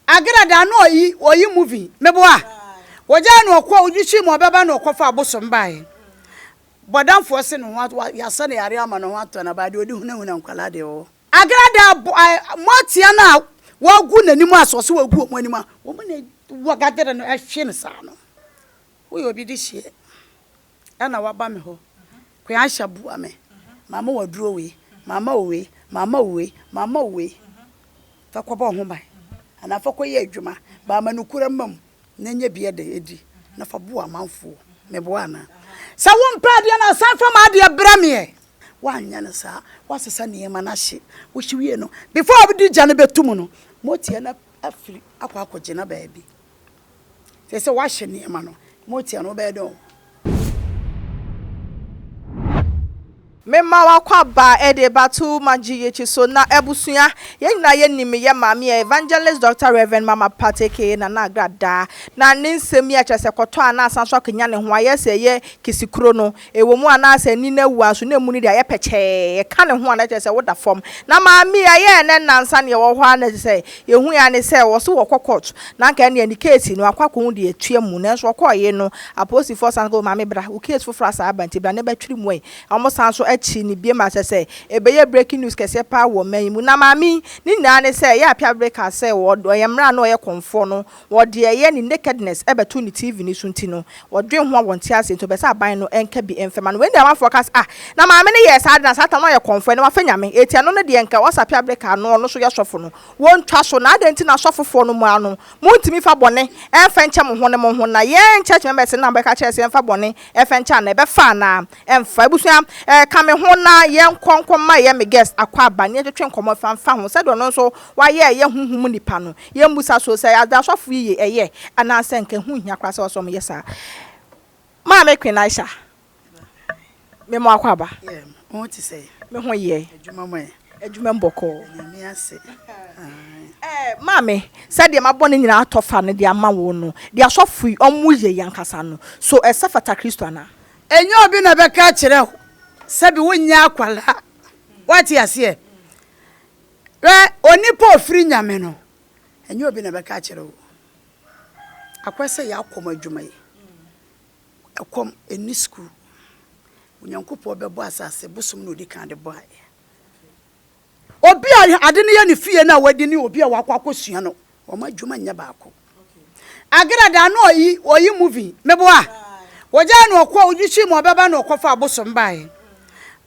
Agena da ano oyi oyi movie mebo a wɔgyaa no ɔkɔ wogye kyi ma ɔbɛba na ɔkɔfa abosom baeɛ bɔdamfoɔ se ne ho ato yɛasa no yareɛ ama ne ho atɔ no abaa deɛ ɔde hunahuna nkwadaa deɛ ɔwɔ Agena da abo ae moatia no a wagu n'anim a sɛ ɔse wagu wɔn anim a wɔn na wɔgadere no ɛhwe no saa no woyɛ obi de hyeɛ. na waba me hɔ, Koyansha boa me, mama wo aduro wei, mama wo wei, mama wo wei, mama wo wei, fa kɔbɔ wo ho ban anaa fa kɔyɛ adwuma, ba ama nokorɛ mma mu na nya bi de adi na fa boa amanfoɔ. Meboa anaa? Sɛ wompɛ adeɛ no a, san fa m'adeɛ brɛ me ɛ. Woanyɛ no saa, woasesa nneɛma no ahye, wohye wie no, before wode gya no bɛto mu no, moteɛ no afiri akɔ akɔgyina baabi. Te sɛ woahyɛ nneɛma no. Motia no, wobɛyɛ dɛn o? Mema w'akwaba de bato magye y'akyi so na abusua, yɛn nyinaa yɛnim me yɛ maame a Evangelist Doctor Rev. Mama Pat aka Nana Agradaa na ne nsɛm yi a kyerɛ sɛ kɔtɔ a na asan so akanyan ne ho ayɛ sɛ ɛyɛ kisikuro no Ɛwɔ mu a na sɛ ani no awu a nso na emu no de ayɛ pɛkyɛɛ. Ɛka ne ho a na kyerɛ sɛ woda fam. Na maame yi ɛyɛɛ nnɛ nnansa nea ɛwɔ hɔ ara na sɛ yɛhui ara ne sɛ wɔse wɔkɔ court na anka ɛnneɛ ne case no akɔ akɔhu deɛ ɛtua mu. Nanso wɔkɔeɛ no apolisifoɔ san ka o maame bra wo case foforɔ asan aba nti bra na bɛtwere mu ɛ. Na wɔn san nso akyiri no biom a kyerɛ sɛ ɛbɛyɛ breaking news kɛseɛ paa wɔ ɔman yi mu. Na maame yi ne nyinaa ne sɛ ɛyɛ a Piabre kaa sɛ ɔyɛ mmara a na ɔyɛ kɔmfoɔ no Wɔ deɛ ɛyɛ ne nakedness bɛto ne TV no so nti no, wɔdwen ho a wɔn nte aseɛ nti wɔpɛ sɛ aban no nka bi mfɛma no. Wei ne deɛ amanfoɔ ka sɛ, ah, na maame no yɛɛ saa de na saa tam no ayɛ kɔmfoɛ na wafɛ Nyame, eti ɛno no deɛ nka ɔsapɛ abreka ano ɔno so yɛ sɔfo no, wɔntwa so, na adɛn nti na asɔfofoɔ no moa no, montumi mfa bɔne mfɛ nkyɛ mo ho ne mo ho, na yɛn church members no na mobɛka kyerɛ sɛ yɛmfa bɔne mfɛ nkyɛ anaa ɛbɛfa anaa ɛmfa, abusua eh, ka me ho na yɛnkɔ nkɔ ma ɛyɛ me guest akɔ aba na yɛntwetwe nkɔmmɔ mfa mfa ho sɛdeɛ ɔno nso wayɛ ɛyɛ honhom mu nipa no. Yɛmmisa so sɛ ade a asɔfo yi yɛ yɛ anaasɛ anka ɛho nhia koraa sɛ wɔsɔ wɔn yɛ saa. Maame Quenaisha, me mo akwaaba. Yeah, mo ho te sɛn? Me ho yɛ. Adwuma mo ɛ? Adwuma mu bɔkɔɔ. Da Nyame ase. Ae. Eh, maame, sɛdeɛ mabɔ ne nyinaa atɔ fa no de ama wo no, deɛ asɔfo yi wɔn yɛ yi ankasa no, so ɛsɛ fata Kristo anaa? Ɛnyɛ obi na bɛka akyerɛ wo sɛbi wonyɛ akwadaa, woate aseɛ? Hwɛ, onipa a ɔfiri Nyame no, ɛnyɛ obi na ɛbɛka akyerɛ wo, akɔyɛ sɛ yɛ akɔm adwuma yi, ɛkɔm ɛnni sukuu, Onyankopɔn bɛbɔ asase bosom na ɔdi kan de bɔeɛ. Obi a ade no yɛ ne fie no a wadi ne obi a wakɔ akɔsua no, wɔn adwuma nyɛ baako. Agera da no ɔyi, ɔyi movie, meboa, wɔgyaa no ɔkɔ, ɔgye hyii mu ɔbɛba na ɔkɔfa abosom baeɛ.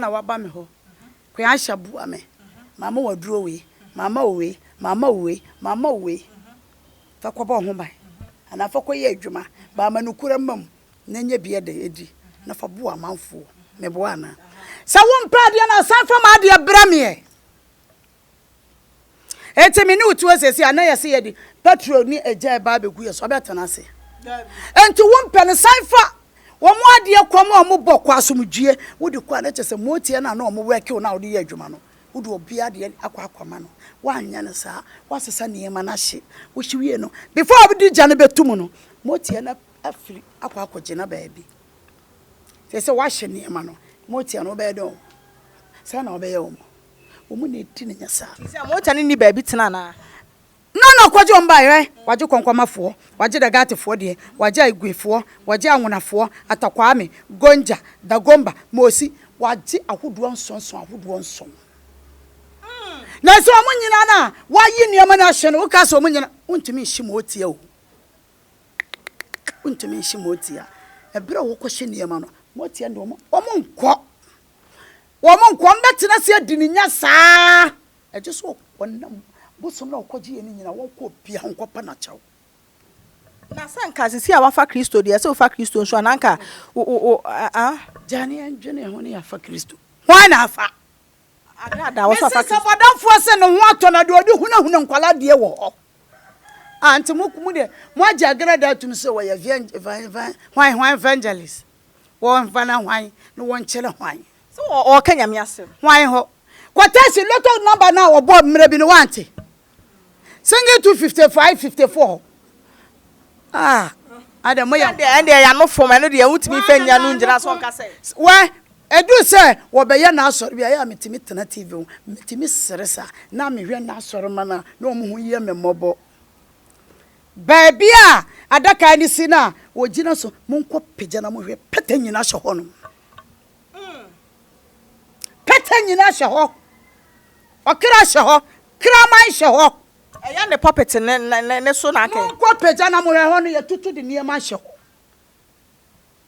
na waba me hɔ, Koyansha bua me, mama wo aduro wei, mama wo wei, mama wo wei, mama wo wei, fa kɔbɔ wo ho ban anaa fa kɔyɛ adwuma, ba ama nokorɛ mma mu na nya bi de adi na fa boa amanfoɔ. Meboa anaa? Sɛ wompɛ adeɛ no a, san fa m'adeɛ brɛ me ɛ! Enti me ne wo te hɔ sɛsi a na yɛse yɛde petrol ne egya ɛba abɛgu yɛ so abɛtena ase Enti wo mpɛ no san fa wɔn adeɛ kɔ ma wɔn bɔ kɔ asomdwie wode kɔ a na kyɛ sɛ moteɛ no a na wɔn wɛke wo no a wode yɛ adwuma no wode obi adeɛ akɔ akɔma no woanyɛ no saa woasesa nneɛma no ahye wohye wie no before wode gya no bɛto mu no moteɛ no afiri akɔ akɔgyina baabi sɛ sɛ woahye nneɛma no moteɛ no wobɛyɛ dɛn o sɛ na wobɛyɛ wɔn Wɔn na edi no nya saa. Te sɛ mogya no nni baabi tena anaa? Hena na ɔkɔgye wɔn baeɛ? Hwɛ, wɔagye kɔnkɔmafoɔ, wɔagye da Gathfoɔ deɛ, wɔagye Aigwefoɔ, wɔagye Anwonafoɔ, Atakwame, Gonja, Dagomba, Mosi, wɔagye ahodoɔ nsonson ahodoɔ nson. Nanso wɔn nyinaa no a wɔayi nneɛma no ahye no, woka sɛ wɔn nyinaa, wontumi nhye Mootia o. Wontumi nhye Mootia. Ɛberɛ a wɔkɔhye nneɛma no, Mootia ne wɔn, wɔnkɔ. Wɔn nkoa mbɛtena ase adi ne nya saa. Ɛgye sɛ ɔnam bosom no a ɔkɔgyeeɛ no nyinaa, wɔnkɔ obiara ho nkɔpɛ no akyɛw. Na sɛ anka sisi a woafa Kristo deɛ, ɛsɛ wofa Kristo nso a, na anka wo, wo, wo, ah. Gyaa ne yɛndwene ho ne yɛafa Kristo. Hwan na afa? Ada ada, wɔsɛ wafa Kristo. Mese sɛ bɔdamfoɔ sɛ ne ho atɔ na deɛ ɔde hunahuna nkwadaa deɛ wɔ hɔ. Ah, nti mo, mo deɛ, moagye agradaa atum sɛ wɔyɛ evan, evan, evan, hwan, hwan evangelist. Wɔmfa na hwan na wɔnkyerɛ hwan. Sɛ ɔɔka Nyame asɛm. Hwan hɔ? Kɔtɛɛse lotto number no a wɔbɔɔ mmerɛ bi no woante? Single two fifty five fifty four Ah adɛ moyɛ. Ɛndeɛ ɛndeɛ ɛyɛ ano fam ɛno deɛ wontumi mfa nnya no ngyina so nka sɛ. Wɛ ɛduru sɛ wɔbɛyɛ n'asɔre bi a ɛyɛ a metumi tena TV ho metumi sere saa na mehwɛ n'asɔremma no a na wɔn ho yɛ me mmɔbɔ. Baabi a adaka no si no a wɔgyina so, monkɔpagya na mohwɛ, pɛtɛ nyina hyɛ hɔ nom. Pɛtɛ nyina hyɛ hɔ. Ɔkra hyɛ hɔ. Kraman hyɛ hɔ. Ɛyɛ ne pulpit no so na kɛ. Monkɔpagya na mohwɛ, ɛhɔ no yɛtoto de nneɛma hyɛ hɔ.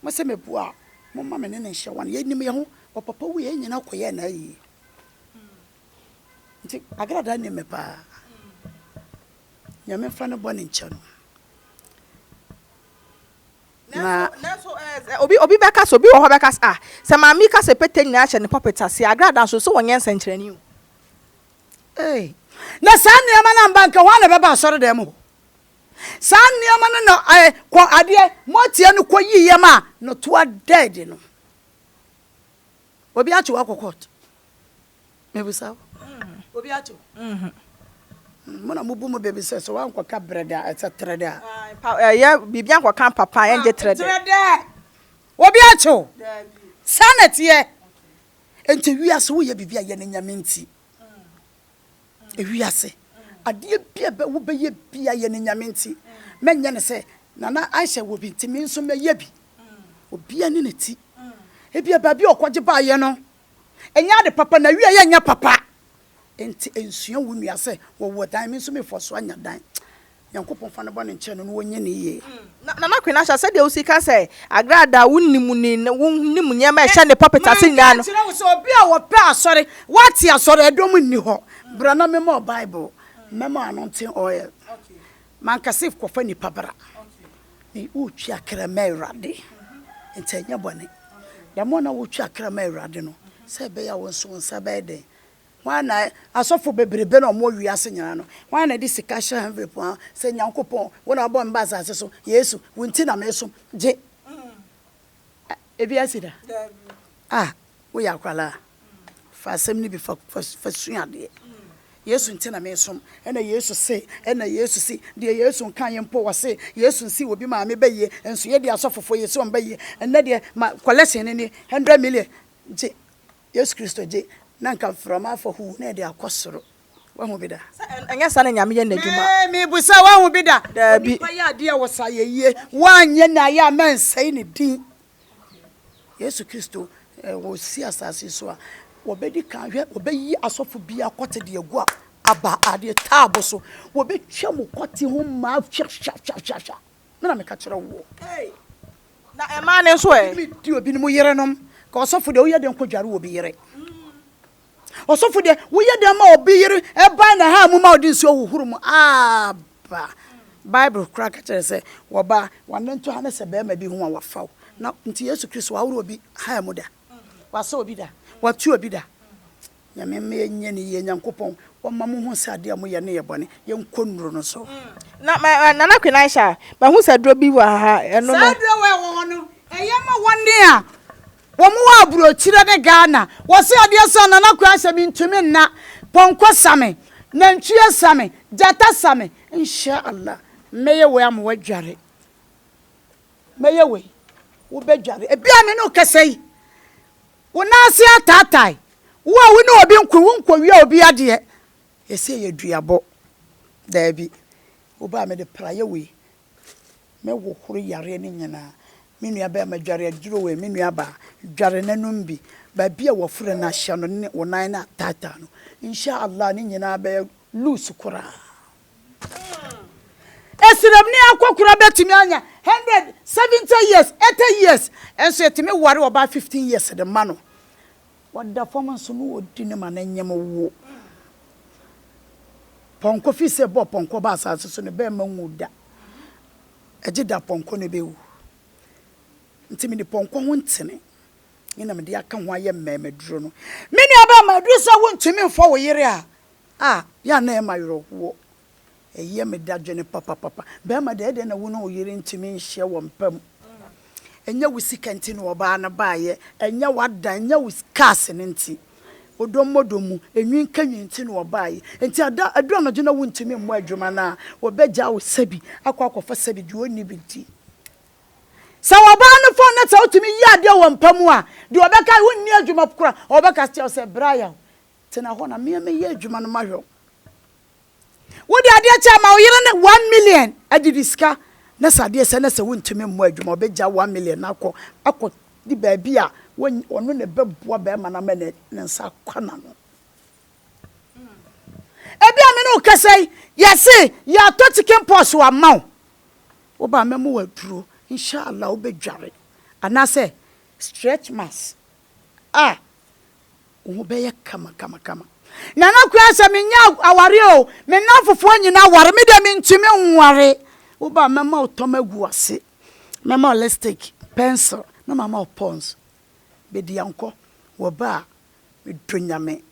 Mo sɛ mebua a, momma me ne no nhyɛ one. Yɛnim yɛn ho. Ɔpapa wui a, yɛn nyina kɔyɛɛ no ayie. Nti Agrada nnim me paa. Nyame mfa ne bɔne nkyɛ no. Nanso eh, obi obi bɛka sɛ obi wɔ hɔ bɛka sɛ ah sɛ maame ka sɛ pete nyinaa hyɛ ne pulpit ase agrada nso sɛ wɔnyɛ nsɛnkyerɛnne o. Hey. Na saa nneɛma no amba nka hɔ na ɛbɛba asɔre dɛm hɔ. Saa nneɛma no na eh, kɔ adeɛ mɔteɛ no kɔ yiiɛ ma no toa dɛɛde no. Obi ato wakɔ court. Mebisa wo. Obi ato. Mo na mobu mo baabi sɛ sɛ wankɔka brɛdɛ a ɛsɛ trɛdɛ a. Ɛyɛ biribi ankɔka papa a ɛngye trɛdɛ. Trɛdɛ. Obi ato. Saa na ɛteɛ. Nti wiase woyɛ biribi a yɛ ne Nyame nti. wiase. Adeɛ bia bɛ wo bɛyɛ bia yɛ ne nyame nti mɛ nyɛ ne sɛ nana aisha wɔ bi nti me nso mɛ yɛ bi obia ne ne ti ebia baabi ɔkɔ gye baa yɛ no ɛnyɛ ade papa na wie yɛ nyɛ papa nti nsua wo nua sɛ wɔ wɔ dan me nso me fɔ so anya dan. Nyankopɔn fa no bɔne nkyɛ no na wɔnyɛ no yie. Nana Kwena Asha, sɛdeɛ wosi ka sɛ Agra da a wonim ne wonim nneɛma a ɛhyɛ ne pulpit ase nyinaa no. Menka nkyerɛ wo sɛ obi a ɔpɛ asɔre, wate asɔre dɔm nni hɔ. Bra na mema wo Bible, mɛma wo anointing oil. Manka sɛ kɔfa nnipa bra. Me, woretwi akra ma Awurade, nti ɛnyɛ bɔne. Dɛm a na woretwi akra ma Awurade no, sɛ ɛbɛyɛ a wo nso wo nsa bɛyɛ dɛn? Hwan na asɔfo bebrebe na wɔwɔ wiase nyinaa no, hwan na ɛde sika hyɛ henvlep mu a sɛ Nyankopɔn, wo na wabɔ me ba asase so, Yesu, wo nti na mesom, gye Ɛ, ebi asi da? Ah, woyɛ akwadaa a, fa asɛm no bi fa, fa, fa sua adeɛ. Yesu nti na mesom, ɛna Yesu se, ɛna Yesu se, deɛ Yesu nkaeɛ mpo, ɔse, Yesu nsii obi maame ba yie, nso yɛdeɛ asɔfofoɔ yɛsi wɔn ba yie, ɛnnɛ deɛ ma, kɔlɛksen no nie, hundred million, gye. Yesu Kristo gye, na anka mframa afa huu na ɛde akɔ soro. Woahu bi da? Sɛ ɛnyɛ saa na Nyame yɛ n'adwuma. Me, mebisa, woahu bi da? Daabi. Onipa yɛ adeɛ a ɔwɔ saayɛyie. Woanyɛ na ayɛ a mɛnsɛe ne din. Yesu Kristo, wɔsi asase so a, wɔbɛdi kan hwɛ, wɔbɛyi asɔfo biara kɔte de agu a, aba adeɛ taabo so. Wɔbɛtwa mu kɔte ho mmaa hwahwahwahwahwa. Me na meka kyerɛ woɔ. Ei, na ɛmaa no nso ɛ? Obi di obinom yerenom. Ka ɔsɔfo deɛ, woyɛ dɛn kɔdware obi yere? Ɔsɔfo deɛ, woyɛ dɛn ma obi yere ba ne haa mu ma ɔde nsuo hohoro mu? Aaba! Bible koraa ka kyerɛ sɛ, wɔba a, wɔanantu ha ne sɛ barima bi ho a wafa wo. Na nti Yesu Kristo wahoro obi haa mu da? Wasɔ obi da? Watu obi da? Nyame mma yɛnyɛ no yie. Nyankopɔn ɔmma mo hu sɛ adeɛ a moyɛ no yɛ bɔne. Yɛnkɔ nnuro no so. Na ma eh, Nana Queen Aisha, mahu sɛ aduro bi wɔ ha, ɛno no. Saa aduro wei a ɛwɔ hɔ no, ɛyɛ ma wɔn a wɔn wɔ aburokyire ne Ghana. Wɔse adeɛ sa a, Nana Queen Aisha, mentumi nna. Pɔnkɔ sa me, nantwie sa me, gyata sa me. Insha Allah, mɛyɛ wei ama woadware. Mɛyɛ wei, wobɛdware. Ebia a me ne wo kasa yi, wo nan ase ataatae. Wo a wo ne obi nko, wonkɔwia obi adeɛ. Yɛse ɛyɛ duabɔ. Daabi. Wobaa mede prayɛ wei. Mɛhohoro yareɛ no nyinaa. Me nuabarima dware aduro wei, me nuabaa dware na nom bi. Baabi a wafura no ahyɛ no ne wo nan no ataataa no, Insha Allah ne nyinaa bɛyɛ loose koraa. Esiramni akɔkora betumi anya hundred, seventy years, eighty years, nso yɛtumi ware ɔbaa fifteen years de ma no. Ɔda fam nso na odi no ma no nyem wo. Pɔnkɔ fi sɛ bɔ pɔnkɔ ba asase so no bɛmma nwu da. Ɛgye da pɔnkɔ no bewu. Nti mede pɔnkɔ ho ntini ne na mede aka ho ayɛ mmɛɛmaduro no. Me nuabarima, ɛduru sɛ wontumi mfa wo yere a, A, yɛ a na ɛma awerɛhoɔ. Ɛyɛ me dadwene papapapa. Barima deɛ, ɛdeɛ na wo ne wo yere ntumi nhyɛ wɔn pɛ mu. Ɛnyɛ wo sika nti na ɔbaa no baeɛ, ɛnyɛ w'adan, ɛnyɛ wo cars no nti. Ɔdɔ mmɔ dɔ mu, enwi nka nwi nti na ɔbaeɛ. Nti ada, ɛduru anadwo na wontumi mmɔ adwuma no a, wɔbɛgyaa wo sɛbi akɔ akɔfa sɛbi deɛ ɔnni bi nti. Sɛ ɔbaa no fɔn na sɛ wotumi yɛ adeɛ wɔ mpa mu a, deɛ ɔbɛka, wonni adwuma koraa, ɔbɛka akyerɛ wo sɛ, Brian, Tena hɔ na me a mɛyɛ adwuma no mahwɛ wo. Wode adeɛ kyɛ ama wo yere no one million agye de sika na sɛ adeɛ sɛ na sɛ wontumi mmɔ adwuma ɔbɛgya one million no akɔ akɔ de baabi a ɔno na ɛbɛboa bɛrima no ama ne nsa akɔ n'ano. Ebi a me ne wo kasa yi yɛse yɛatɔ chicken pox wama wo wo ba mɛma wo aduro inshallah wobɛdware anaasɛ stretch marks a, wo ho bɛyɛ kama kama kama. Nana Kua sɛ menyɛ awareɛ o, me nnamfofoɔ nyinaa aware, me deɛ mentumi nware. Wo ba a, mɛma wo tɔma agu w'ase, mɛma wo lipstick, pencil, na mama wo pons. Bɛdi ankɔ, wɔ ba a, medɔ Nyame.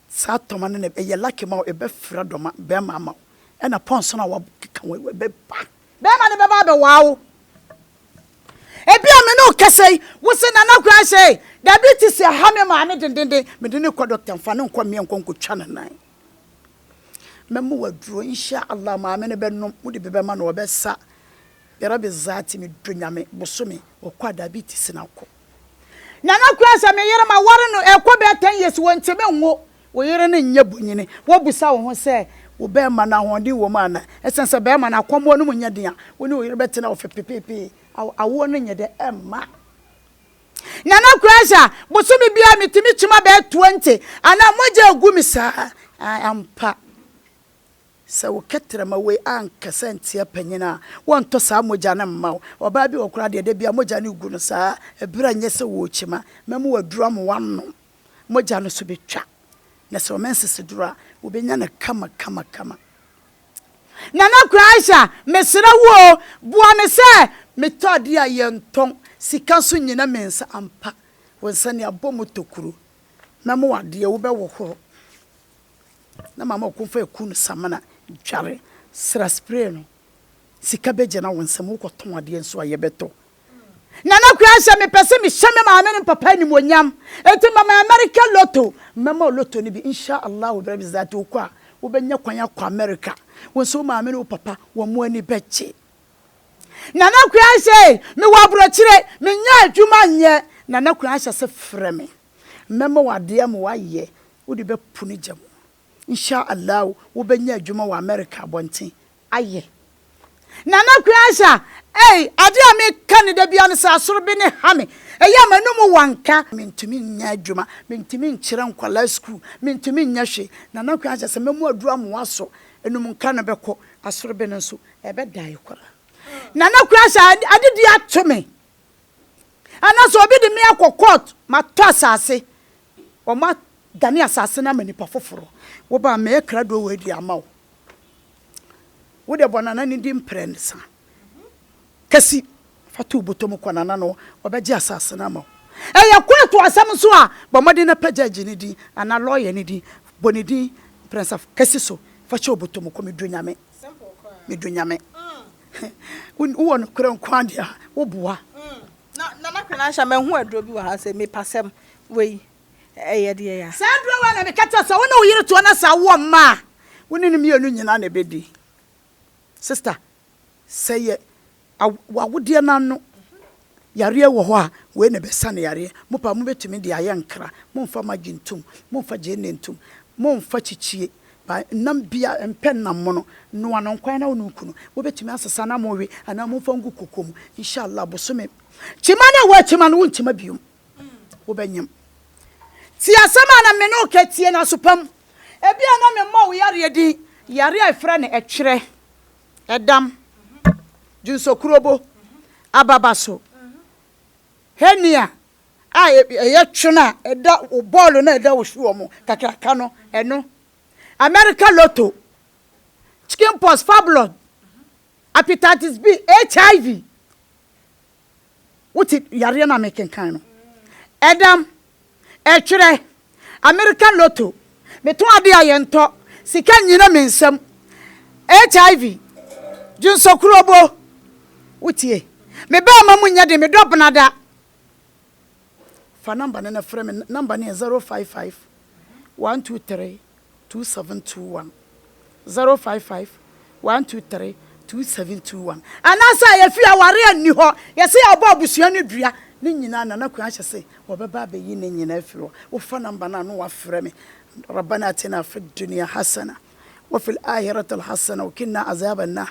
Saa tɔma no na ɛbɛyɛ lucky ma wo, ɛbɛfira dɔma bɛrima ama wo, ɛna pɔnsa no a wɔakeka ho ɛbɛba. Bɛrima no bɛba abɛwaa wo. Ebia me ne wo kasa yi, wo se Nana Guanhye ei, diabetes aha me maame dendenden, mede no rekɔ doctor, mfa no nkɔ mmea nkɔ nkɔtwa ne nan. Mɛma waduro, Insha Allah, maame no bɛnom, wode bi bɛma no, ɔbɛsa, Birabi Zaati, medɔ Nyame, bosome, ɔkɔ a diabetes no akɔ. Nana kura sɛ me yere ma ware no ɛkɔ bɛyɛ ten years wo ntimi nwo wo yere no nyɛ bonyini wo bisa wo ho sɛ wo bɛɛma no ahoɔden wɔ mu ana ɛsɛn sɛ bɛɛma no akɔmoɔ no mu nyɛ den a wo ne wo yere bɛ tena ɔfe pepepee awo awoɔ no nyɛ dɛ ɛmma Nana kura sɛ bosome biara me timi kyima bɛyɛ twenty ana mogya egu me saa ae ampa. Sɛ wo kɛtrɛma wei ankasa nteɛ panyin a, wɔntɔ saa mogya no mma wo. Ɔbaa bi wɔ hɔ koraa deɛ, da biara mogya no regu no saa, ɛberɛ a ɛnyɛ sɛ ɔrekyima. Mɛma waduru ama wanom. Mogya no so bɛtwa, na sɛ ɔmɛ nseseduro a, ɔbɛnya no kama kama kama. Nana Kwaehya, mesrɛ wo o, boa me sɛ metɔ adeɛ a yɛntɔn, sika nso nnyina me nsa ampa. Wo nsa ni abɔ mu tɔ kuro. Mɛma wo adeɛ, wobɛhohoro. Na mama ɔko fa eku no samena dware sra spray no sika bɛ gyina wo nsam wo kɔ tɔn adeɛ nso a yɛ bɛ tɔ Nana Kwea hyɛ me pɛ sɛ me hyɛ me maame ne me papa animuonyam enti mama America lotto mɛ ma wo lotto no bi insha Allah bɛ bi zati wo kɔ a wo bɛ nya kwan akɔ America wo nso wo maame ne wo papa wɔn mo ani bɛ gye Nana Kwea hyɛ me wɔ abrokyire me nya adwuma nyɛ Nana Kwea hyɛ se frɛ me mɛ ma wo adeɛ ma wo ayɛ Wode bɛpo ne gya mu. Nsha Allah wobɛnya adwuma wɔ America abɔnten. Ayɛ. Nana Kweasia ei adeɛ a me ka no da biara no sɛ asoro bi ne ha me ɛyɛ a m'anum wanka, mentumi nyɛ adwuma, mentumi nkyerɛ nkwadaa sukuu, mentumi nyɛ hwee, Nana Kweasia sɛ mɛmu aduru amoa so anum nka no bɛkɔ, asoro bi no nso ɛbɛ die koraa. Nana Kweasia ade bi ato me, anaasɛ obi de me akɔ court matɔ asase, Wɔadane asase no ama nnipa foforo. Wo ba, mɛyɛ krado wei de ama wo. Wo deɛ, bɔ nana no din mprɛnsa. Kasi, fa to wo bɔtɔ mu kɔ nana no hɔ, ɔbɛgye asase no ama wo. Ɛyɛ kɔɔto asɛm nso a, bɔ mmɔden na pɛ gyɛɛgye no din anaa lɔya no din. Bɔ ne din mprɛnsa kasi so, fa hyɛ wo bɔtɔ mu kɔ. Medɔ Nyame. Medɔ Nyame. Wowɔ nokorɛ nko ara deɛ a, woboa. Na Nana Kwenansha mahu aduro bi wɔ ha sɛ mipasɛm wei ɛyɛ deɛ ya. Saa aduro wei na meka kyerɛ sɛ wo ne wo yere toɔ na sɛ awoɔ mma a wo ne no mmienu nyinaa na ɛbɛdi. Sister sɛ yɛ w'awodeɛ no ano yareɛ wɔ hɔ a wei na ɛbɛsane yareɛ. Mo paa mobɛtumi de ayɛ nkra, momfa maggi ntom, momfa gyeene ntom, momfa kyikyie Pa nam biara, mpɛ nam mono, noa no nkwan na wo ne wo kunu mobɛtumi asesa na mowe anaa momfa ngu koko mu. Inshallah bosome kyima no a woakyima no wonkyima biom, wobɛnyem. Tie asɛm a na me ne wo ka, tie no aso pa mu. Ebia na memmɔɔ wo yareɛ din, yareɛ a yɛfrɛ no ɛtwerɛ, ɛdam, dwonsɔkurobo, ababaso, hernia, a ɛyɛ twene a ɛda wo bɔɔlo no a ɛda wo soɔ mu kakraka no, ɛno. America Lotto, chicken pox, fibroid, hepatitis B, HIV. Wote yareɛ no a mekenkan no. Ɛdam, ɛtwerɛ, American Lotto, meto adeɛ a yɛntɔ, sika nnyina me nsam, HIV, dwonsɔkurobo. Wotie? Me bɛɛma mu nyɛ den, medɔ benada. Fa number no na frɛ me, number no yɛ zero five five one two three two seven two one, zero five five one two three two seven two one. Anaasɛ efi aware a nni hɔ, yɛsɛ yɛbɔ abusua no dua, ne nyinaa Nana Kwan ahyɛ sɛ wɔbɛba abɛyi ne nyinaa afiri hɔ. Wofa number no a na wafrɛ me, Rabbana atina fid dunya hasana wa fil ahirati hasana wa qina azaban nar.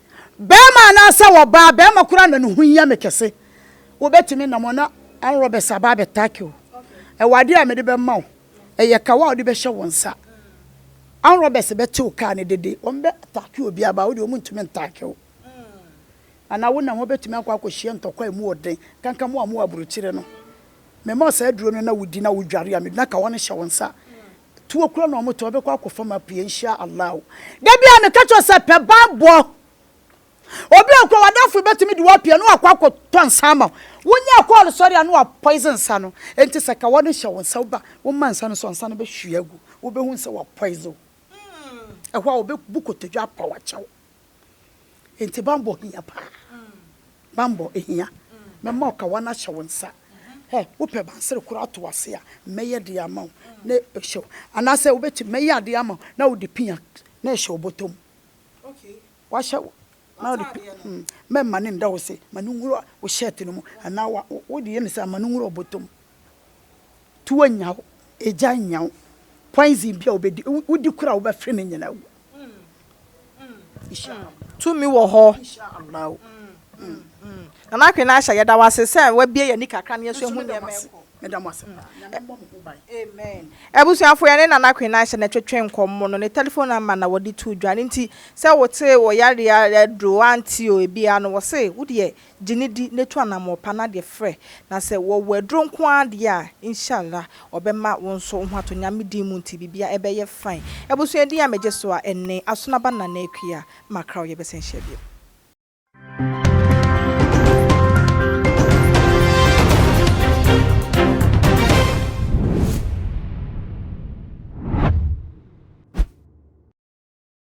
Barima anaasɛ ɔbaa, barima koraa na ne ho hia me kɛse. Wobɛtumi nam hɔ na armed robbers aba abɛtake wo. Ɛwɔ adeɛ a mede bɛma wo. Ɛyɛ kawa a wode bɛhyɛ wo nsa. Armed robbers bɛte wo kaa no dede. Wɔbɛtake obi aba a, wo deɛ wɔn ntumi ntake wo. Anaa wonam hɔ bɛtumi akɔ akɔhyia ntɔkwa a ɛmu wɔ den. Kanka mo a mowɔ aburokyire no, mema wo saa aduro no na wodi na wodware a, mede na kawa no hyɛ wo nsa. tuo kura na wɔtɔ bɛkɔ akɔfam apue nhyia Allah o. Da biara meka kyerɛ sɛ pɛ bammɔ. Obi a okura w'adamfo bɛtumi de wo apue na wakɔ akɔtɔ nsa ama wo. Wonyaa kɔɔl sɔre a na wɔapoison nsa no. Enti sɛ ka wɔde hyɛ wo nsa wo ba woma nsa no so a nsa no bɛhwie agu. Wobɛhunu sɛ wɔapoison wo. Ɛhɔ a wɔbɛbu kotodwe apa wo akyɛ wo. Enti bammɔ hia paa. Bammɔ hia. Mɛma ɔkawa no ahyɛ wo nsa. Hɛ, wopɛ bansere koro ato ase a, mɛyɛ de ama wo na ɛhyɛ wo. Anaasɛ wobɛtumi, mɛyɛ adeɛ ama wo na wode pia na ɛhyɛ wo bɔtɔ mu. Wahyɛ wo na wode pi, hmm, mɛma no nda wo se, ma no nwura wo shirt no mu anaa wa, wode yɛ no saa, ma no nwura wo bɔtɔ mu. Tuo nya wo, egya nya wo, poison bi a wobɛdi, wodi koro a wobɛfere no nyinaa wu. Tumi wɔ hɔ. Nana Akwena Ahyɛ, yɛda wo ase sɛ woabue yɛn ani kakra na yɛasu ahu nneɛma ɛkɔ. Amen. Abusuafo, yɛne Nana Akwena Ahyɛ na ɛtwetwe nkɔmmɔ no. Ne telephone number na wɔde too dwa. Ɛno nti, sɛ wote ɔyare aduro, woante o, ebiara no, wɔse, wo deɛ, Gye no di na tu anammɔn pa no adeɛ frɛ. Na sɛ wɔwɔ aduro nko ara deɛ a, Inshalla, wɔbɛma wo nso wo ho atɔ Nyame din mu nti biribiara ɛbɛyɛ fine. Abusua din a megye so a ɛne, Asonaba Nana Akua. Macra Ɔyɛ bɛsan hyia bio.